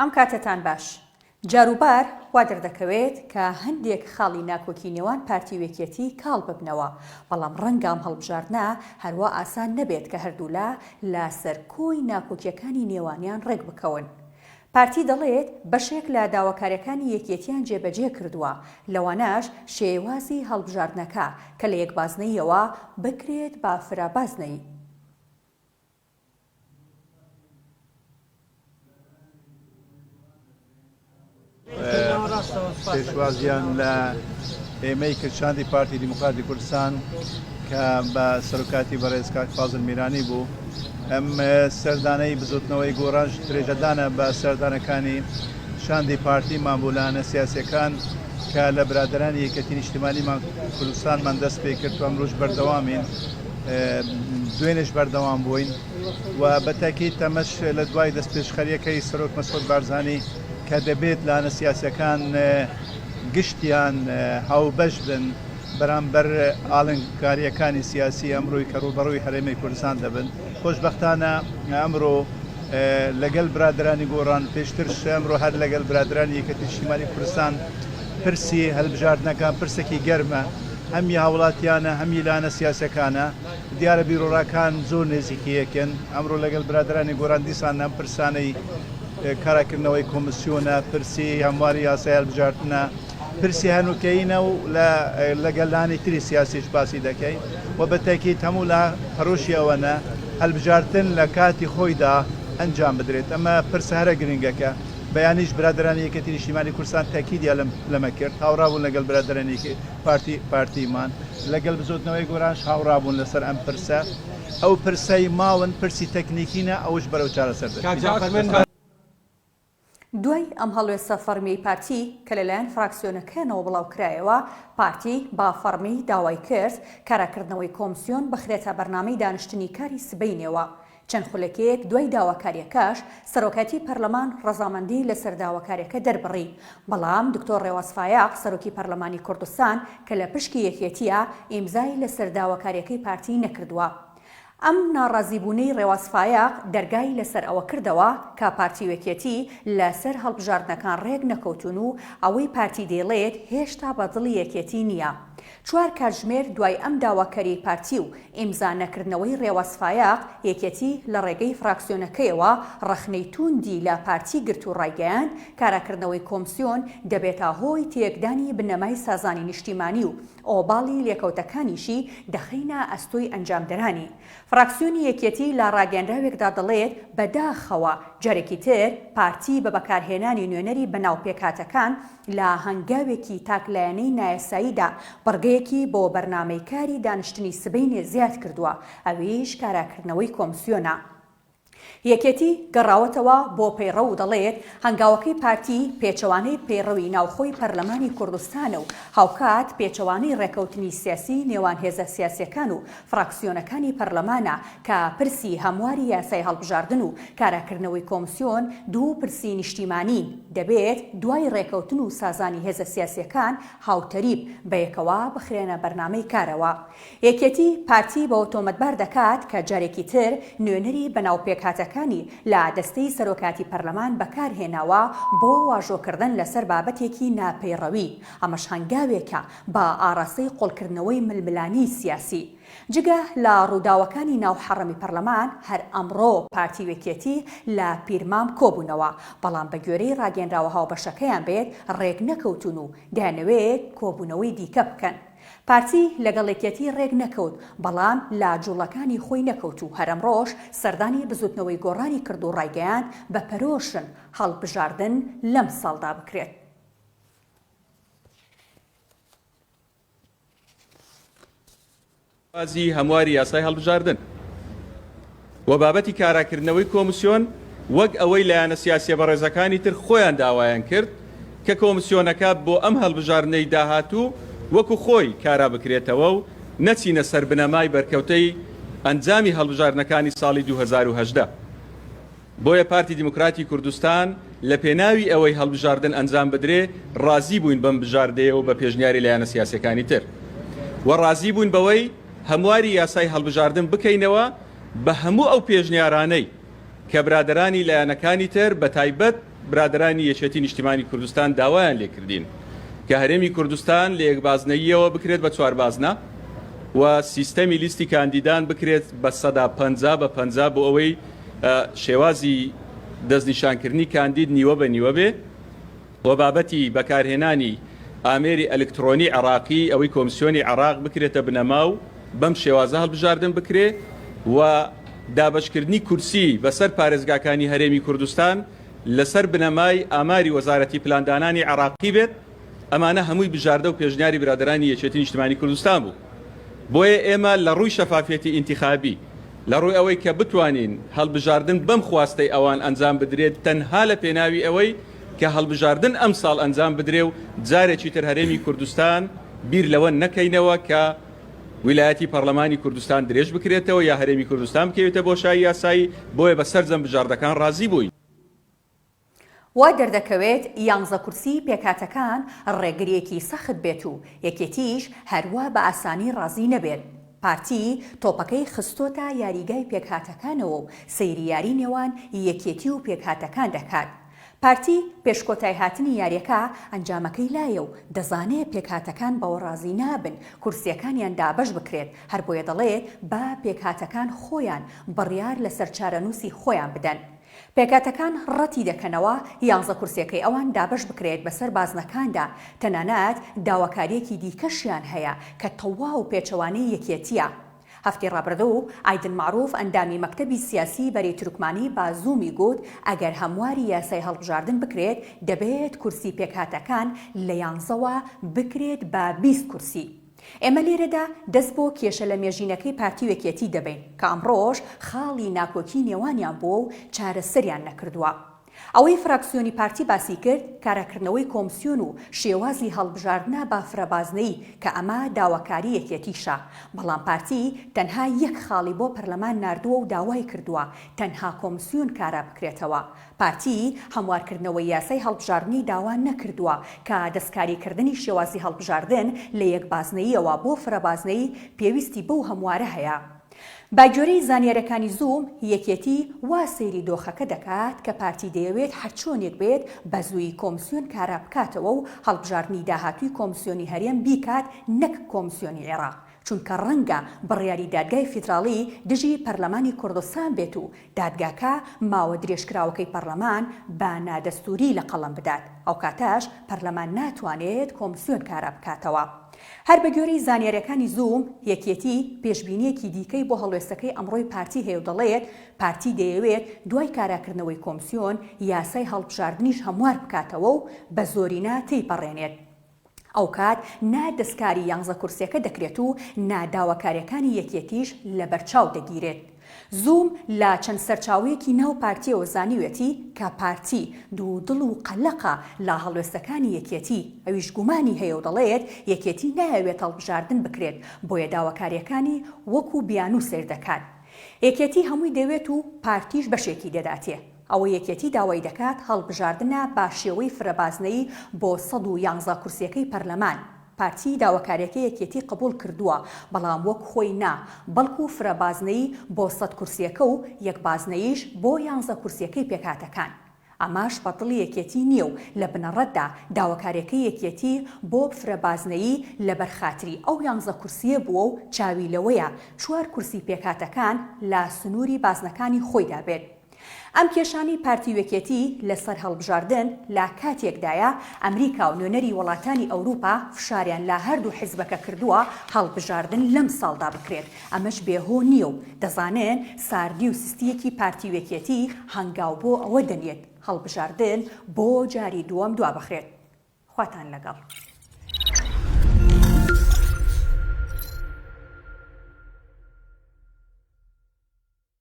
ئەم کاتەتان باش. جاروبار وا دەردەکەوێت کە هەندێک خاڵی ناکۆکی نێوان پارتی و یەکێتی کاڵ ببنەوە، بەڵام ڕەنگە ئەم هەڵبژاردنە هەروا ئاسان نەبێت کە هەردوولا لە سەر کۆی ناکۆکیەکانی نێوانیان ڕێک بکەون. پارتی دەڵێت بەشێک لە داواکاریەکانی یەکێتیان جێبەجێ کردووە، لەوانەش شێێوازی هەڵبژاردنەکە کە لە یەک بازنەییەوە بکرێت بە فرە بازنەیی. پێشوازیان لە ئێمەی کرد شاندی پارتی دیموکراتی کوردستان کە بە سەرکاتی بەڕێز کاک فازل میرانی بوو ئەم سەردانەی بزوتنەوەی گۆڕانش درێژەدانە بە سەردانەکانی شاندی پارتی مابولانە سیاسەکان کە لە برادرانی یەکەتی نیشتمانیمان کوردستانمان دەست پێ کرد و ئەمروش بەردەوامین دوێنێش بەردەوام بووین و بە تاکیت تەمەش لە دوای دەستپێشخەریەکەی سەرۆک مەسعود بارزانانی کە دەبێت لایەنە سیاسەکان گشتیان هاوبەش بن بەرامبەر ئاڵنگکاریەکانی سیاسی ئەمروی کە ڕوبەڕوی هەرێمی کوردستان دەبن خۆشببختانە ئەمرۆ لەگەل برادرانی گۆڕان پێشتر ئەمرۆ هەر لەگەل برادرانی یەکەتی شیمالی کوردستان پرسی هەلبژاردنەکان پرسێکی گەرمە. هەم ی هاوڵاتیانە هەم ی لایەنە سیاسیەکانە دیارە بیروڕاکان زۆر نێزیکی یەکن ئەمرۆ لەگەل برادەرانی گۆران دیسان ئەم پرسانەی کارا کردنەوەی کۆمسیۆنە پرسی هەمواری یاسای هەلبژارتنە پرسی هەنوکەیینە و لە لەگەل لانی تری سیاسیش باسی دەکەین و بە تەکید هەموو لا پەرۆشی ئەوەنە هەلبژارتن لە کاتی خۆیدا ئەنجام بدرێت ئەمە پرسە هەرە گرنگەکە بەیانیش برادەرانی یەکێتی نیشتیمانی کوردستان تەکیدیان لەمە کرد هاوڕا بوون لەگەل برادەرانی پارتی پارتیمان لەگەل بزوتنەوەی گۆرانش هاوڕابوون لەسەر ئەم پرسە ئەو پرسەی ماون پرسی تەکنیکینە ئەوش بەرەو چارەسەر دەچێت. دوای ئەم هەڵوێستە فەڕمیەی پارتی کە لەلایەن فراکسیۆنەکەیانەوە بڵاوکرایەوە، پارتی بە فەڕمی داوای کرد کاراکردنەوەی کۆمسیۆن بخرێتە بەرنامەی دانیشتنی کاری سبەینێوە چەند خولەکێک دوای داواکاریەکەش سەرۆکایەتی پەرلەمان ڕەزامەندی لەسەر داواکاریەکە دەربڕی، بەڵام دکتۆر ڕێواز فایەق سەرۆکی پەرلەمانی کوردستان کە لە پشکی یەکێتیە ئیمزای لەسەر داواکاریەکەی پارتی نەکردوە. ئەم ناڕازیبونەی ڕێواز فایەق دەرگای لەسەر ئەوە کردەوە کە پارتی و یەکێتی لەسەر هەڵبژاردنەکان ڕێک نەکەوتون و ئەوەی پارتی دەیڵێت هێشتا بە دڵی یەکێتی نیە چوار کاتژمێر دوای ئەم داواکاریەی پارتی و ئیمزا نەکردنەوەی رێواز فایەق، یەکێتی لە رێگەی فراکسیۆنەکەیەوە رەخنەی تووندی لە پارتی گرت و رایگەیاند، کاراکردنەوەی کۆمسیۆن دەبێتە هۆی تێکدانی بنەمای سازانی نیشتیمانی و ئۆباڵی لێکەوتەکانیشی دەخەینە ئەستۆی ئەنجامدەرانی. فراکسیۆنی یەکێتی لە راگەیەنراوێکدا دەڵێت، بەداخەوە جارێکی تر پارتی بە بەکارهێنانی نوێنەری بەناو پێکهاتەکان، لە هەنگاوێکی تاک لایەنەی نایاساییدا بڕگەیەکی بۆ بەرنامەی کاری دانیشتنی سبەینێ زیاد کردووە، ئەویش کاراکردنەوەی کۆمسیۆنە. یەکێتی گەڕاوەتەوە بۆ پەیڕەو و دەڵێت، هەنگاوەکەی پارتی پێچەوانەی پەیڕەوی ناوخۆی پەرلەمانی کوردستانە و هاوکات پێچەوانەی ڕێکەوتنی سیاسیی نێوان هێزە سیاسییەکان و فراکسیۆنەکانی پەرلەمانە کە پرسی هەمواری یاسای هەڵبژاردن و کاراکردنەوەی کۆمسیۆن دوو پرسی نیشتیمانین، دەبێت دوای رێکەوتن و سازانی هێزە سیاسیەکان هاوتەریب بەیەکەوە بخرێنە بەرنامەی کارەوە. یەکێتی پارتی بەوە تۆمەتبار دەکات کە جارێکی تر نوێنەری بەناو پێکهاتەکانی لە دەستەی سەرۆکایەتی پەرلەمان بەکارهێناوە بۆ واژۆکردن لەسەر بابەتێکی ناپەیڕەوی، ئەمەش هەنگاوێکە بە ئاراستەی قۆڵکردنەوەی ململانێی سیاسی. جگە لە ڕووداوەکانی ناو حەڕەمی پەرلەمان، هەر ئەمڕۆ پارتی و یەکێتی لە پیرمام کۆبوونەوە، بەڵام بەگوێرەی ڕاگەنراوە هاوبەشەکەیان بێت ڕێک نەکەوتوون و دەیانەوێت کۆبوونەوەی دیکە بکەن. پارتی لەگەڵ یەکێتی ڕێک نەکەوت، بەڵام لە جوڵەکانی خۆی نەکەوت و هەر ئەمڕۆش سەردانی بزوتنەوەی گۆڕانی کرد و ڕایگەیاند بە پەرۆشن هەڵبژاردن لەمساڵدا بکرێت. شێوازی هەمواری یاسای هەڵبژاردن و بابەتی کاراکردنەوەی کۆمسیۆن وەک ئەوەی لایەنە سیاسیە بەڕێزەکانی تر خۆیان داوایان کرد کە کۆمسیۆنەکە بۆ ئەم هەڵبژاردنەی داهاتوو وەکو خۆی کارا بکرێتەوە و نەچینە سەر بنەمای بەرکەوتەی ئەنجامی هەڵبژاردنەکانی ساڵی 2018. بۆیە پارتی دیموکراتی کوردستان لە پێناوی ئەوەی هەڵبژاردن ئەنجام بدرێ ڕازی بووین بەم بژاردەیە و بە پێشنیاری لایەنە سیاسیەکانی تر و ڕازی بووین بەوەی هەمواری یاسای هەڵبژاردن بکەینەوە بە هەموو ئەو پێشنیارانەی کە برادەرانی لایەنەکانی تر بە تایبەت برادەرانی یەکێتی نیشتیمانی کوردستان داوایان لێکردین کە هەرێمی کوردستان لە یەک بازنەییەوە بکرێت بە چوار بازنە و سیستەمی لیستی کاندیدان بکرێت بە سەدا پەنجا بە پەنجا بۆ ئەوەی شێوازی دەستنیشانکردنی کاندید نیوە بە نیوە بێ و بابەتی بەکارهێنانی ئامێری ئەلکترۆنی عێراقی ئەوەی کۆمسیۆنی عێراق بکرێتە بنەما و بەم شێوازە هەڵبژاردن بکرێ و دابەشکردنی کورسی بەسەر پارێزگاکانی هەرێمی کوردستان لەسەر بنەمای ئاماری وەزارەتی پلاندانانی عێراقی بێت ئەمانە هەمووی بژاردە و پێشنیاری برادەرانی یەکێتی نیشتمانی کوردستان بوو بۆیە ئێمە لە ڕووی شەفافیەتی ئینتیخابی لە ڕووی ئەوەی کە بتوانین هەڵبژاردن بەم خواستەی ئەوان ئەنجام بدرێت تەنها لە پێناوی ئەوەی کە هەڵبژاردن ئەم ساڵ ئەنجام بدرێ و جارێکی تر هەرێمی کوردستان بیر لەوە نەکەینەوە کە ویلایەتی پەرلەمانی کوردستان درێژ بکرێتەوە یا هەرێمی کوردستان بکەوێتە بۆشایی یاسایی بۆیە بە سەرجەم بژاردەکان ڕازی بووین. وا دەردەکەوێت یانزە کورسیی پێکهاتەکان ڕێگرییەکی سەخت بێت و یەکێتییش هەر وا بە ئاسانی ڕازی نەبێت. پارتی تۆپەکەی خستۆتە یاریگای پێکهاتەکانەوە و سەیری یاری نێوان یەکێتی و پێکهاتەکان دەکات. پارتی پێش کۆتایهاتنی یاریەکە ئەنجامەکەی لایە و دەزانێت پێکهاتەکان بەوە ڕازی نابن کورسییەکانیان دابەش بکرێت، هەربۆیە دەڵێت با پێکهاتەکان خۆیان بڕیار لەسەر چارەنووسی خۆیان بدەن. پێکهاتەکان ڕەتی دەکەنەوە یانزە کورسیەکەی ئەوان دابەش بکرێت بەسەر بازنەکاندا، تەنانەت داواکاریەکی دیکەشیان هەیە کە تەواو پێچەوانەی یەکێتیە. هەفتی ڕابردوو ئایدن مەعروف ئەندامی مەکتەبی سیاسی بەرەی تورکمانی بە زوومی گووت ئەگەر هەمواری یاسای هەڵبژاردن بکرێت دەبێت کورسی پێکهاتەکان لە یانزەوە بکرێت بە بیست کورسی. ئێمە لێرەدا دەست بۆ کێشە لەمێژینەکەی پارتی و یەکێتی دەبەین کە ئەمڕۆش خاڵی ناکۆکی نێوانیان بووە و چارەسەریان نەکردووە. ئەوەی فراکسیۆنی پارتی باسی کرد کاراکردنەوەی کۆمسیۆن و شێوازی هەڵبژاردنە بە فرەبازنەیی کە ئەمە داواکاری یەکێتیشە، بەڵام پارتی تەنها یەک خاڵی بۆ پەرلەمان ناردووە و داوای کردووە تەنها کۆمسیۆن کارا بکرێتەوە، پارتی هەموارکردنەوەی یاسای هەڵبژاردنی داوا نەکردووە کە دەستکاریکردنی شێوازی هەڵبژاردن لە یەک بازنەییەوە بۆ فرە بازنەیی پێویستی بەو هەموارە هەیە. بەگوێرەی زانیارییەکانی زووم، یەکێتی وا سەیری دۆخەکە دەکات کە پارتی دەیەوێت هەرچۆنێک بێت بەزوویی کۆمسیۆن کارابکاتەوە و هەڵبژاردنی داهاتووی کۆمسیۆنی هەرێم بیکات نەک کۆمسیۆنی عێراق، چونکە ڕەنگە بڕیاری دادگای فیدراڵی دژی پەرلەمانی کوردستان بێت و دادگاکە ماوە درێژکراوەکەی پەرلەمان بە نادەستووری لە قەڵەم بدات، ئەو کاتەش پەرلەمان ناتوانێت کۆمسیۆن کارا بکاتەوە. هەر بە گوێرەی زانیارییەکانی زووم، یەکێتی پێشبینییەکی دیکەی بۆ هەڵوێستەکەی ئەمڕۆی پارتی هەیە و دەڵێت، پارتی دەیەوێت دوای کاراکردنەوەی کۆمسیۆن، یاسای هەڵبژاردنیش هەموار بکاتەوە و بە زۆرینە تێیپەڕێنێت. ئەوکات نا دەستکاری یانزە کورسیەکە دەکرێت و نا داواکاریەکانی یەکێتیش لەبەرچاو دەگیرێت. زووم لە چەند سەرچاوەیەکی ناو پارتیەوە زانیوێتی کە پارتی دوو دڵ و قەلەقە لە هەڵوێستەکانی یەکێتی، ئەویش گومانی هەیەو دەڵێت یەکێتی نایەوێت هەڵبژاردن بکرێت بۆیە داواکاریەکانی وەکو بیانوو سەیردەکات. یەکێتی هەمووی دەوێت و پارتیش بەشێکی دەداتێ. ئەوەی یەکێتی داوای دەکات هەڵبژاردنە بە شێوەی فرە بازنەیی بۆ سەد و یانزە کورسیەکەی پەرلەمان، پارتی داواکاریەکەی یەکێتی قبوڵ کردووە بەڵام وەک خۆی نا بەڵکو فرە بازنەیی بۆ سەد کورسیەکە و یەک بازنەییش بۆ یانزە کورسیەکەی پێکهاتەکان ئەمەش بە دڵی یەکێتی نیە و لە بنەڕەتدا داواکاریەکەی یەکێتی بۆ فرە بازنەیی لەبەر خاتری ئەو یانزە کورسیە بووە و چاوی لەوەیە چوار کورسی پێکهاتەکان لە سنوری بازنەکانی خۆیدا بێت. ئەم کێشانەی پارتی و یەکێتی لە سەر هەڵبژاردن لە کاتێکدایە ئەمریکا و نوێنەری وەڵاتانی ئەوروپا فشاریان لە هەردوو حزبەکە کردووە هەڵبژاردن لەم ساڵدا بکرێت ئەمەش بێ هۆ نیە و دەزانن ساردی و سستیەکی پارتی و یەکێتی هەنگاو بۆ ئەوە دەنێت هەڵبژاردن بۆ جاری دووەم دوابخرێت. خواتان لەگەڵ.